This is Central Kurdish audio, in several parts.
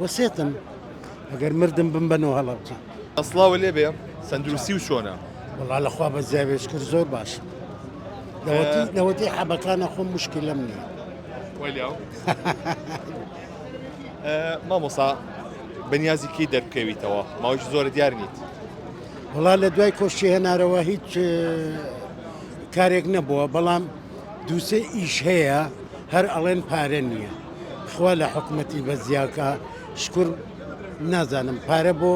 وەسێتم ئەگەر مردم بم بە نۆ هەڵەبجە. سڵاو لێ بێ سەندروستی و چۆنە. وەڵا لە خوا بە زیاوێش کرد زۆر باشم لەوەتی لەوەتی حەبەکانە خۆم مشکلم نییە وەلیاو مامۆسا بەنیازی کەی دەرکەویتەوە ماوەش زۆر دیار نیت وڵا لە دوای کۆشتی هێنارەوە هیچ کارێک نەبووە بەڵام دوو سێ ئیش هەیە هەر ئەڵێن پارە نییە خوا لە حکومەتی بەزیاکە شکر نازانم پارە بۆ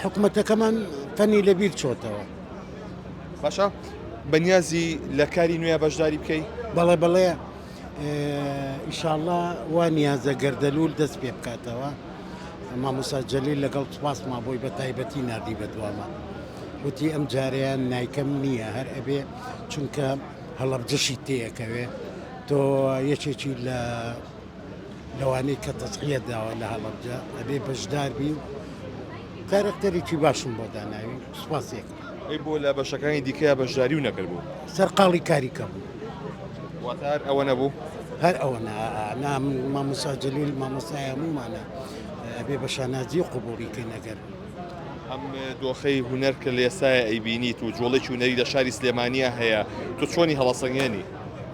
حکومەتەکەمان فەنی لەبیر چۆتەوە باشە بەنیازی لە کاری نوێ بەشداری بکەی بەڵێ بەڵێ ئیشاءله وا نیازە گەردەلول دەست پێ بکاتەوە مامۆسا جەلیل لەگەڵ سپاس مابۆی بە تایبەتی نردی بە دوامان وتی ئەم جارەیان نیکەم نییە هەر ئەبێ چونکە هەڵەبجەشی تێئەکەوێ تۆ یەکێکی لە لەوانەی کە تەسقیە داوە لە هەڵەبجە ئەبێ بەشداربی و کارەکتەرێکی باشم بۆ داناوی سوپاسێک ئەی بۆ لە بەشەکانی دیکە بەشداری و نەکردبوو سەرقاڵی کاری کەم واتار ئەوە نەبوو هەر ئەوە نام مامۆساجلیل مامۆسایە مومانە ئەبێ بە شانازی و قوبوڵی کەی نەگەر ئەم دۆخەی هونەر کە لە ئێستایا ئەیبینیت و جۆڵێکی هونەری لە شاری سلێمانیا هەیە تۆ چۆنی هەڵەسەنگێنی؟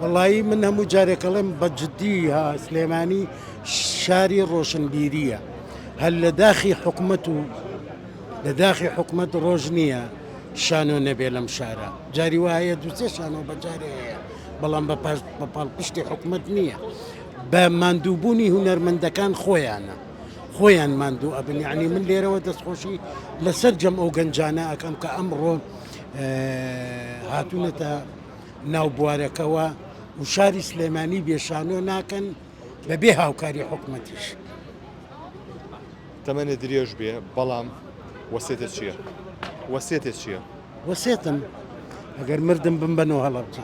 وەڵایی من هەموو جارێک ئەڵێم بە جددی ها سلێمانی شاری ڕۆشنبیرییە هەر لە داخی حکومەت و لە داخی حکومەت ڕۆژ نییە شانۆ نەبێ لەم شارە جاری وایە دووسێ شانۆ بەجارێ هەیە بەڵام بە پاش بە پاڵپشتی حکومەت نییە بە ماندووبوونی هونەرمەندەکان خۆیانە. خۆیان ماندوو ئەبن یعنی من لێرەوە دەستخۆشی لەسەر جەم ئەو گەنجانە ئەەکەم کە ئەمڕۆ هاتوونەتە ناو بوارەکەەوە و شاری سلێمانی بێشانۆ ناکەن بەبێ هاوکاری حکومەتیش تەمەێ درێژ بێ بەڵام وەسێتە چییە؟ وەسێتە چییە؟ وەسێتم ئەگەر مردم بم بەنەوە هەڵەبجە.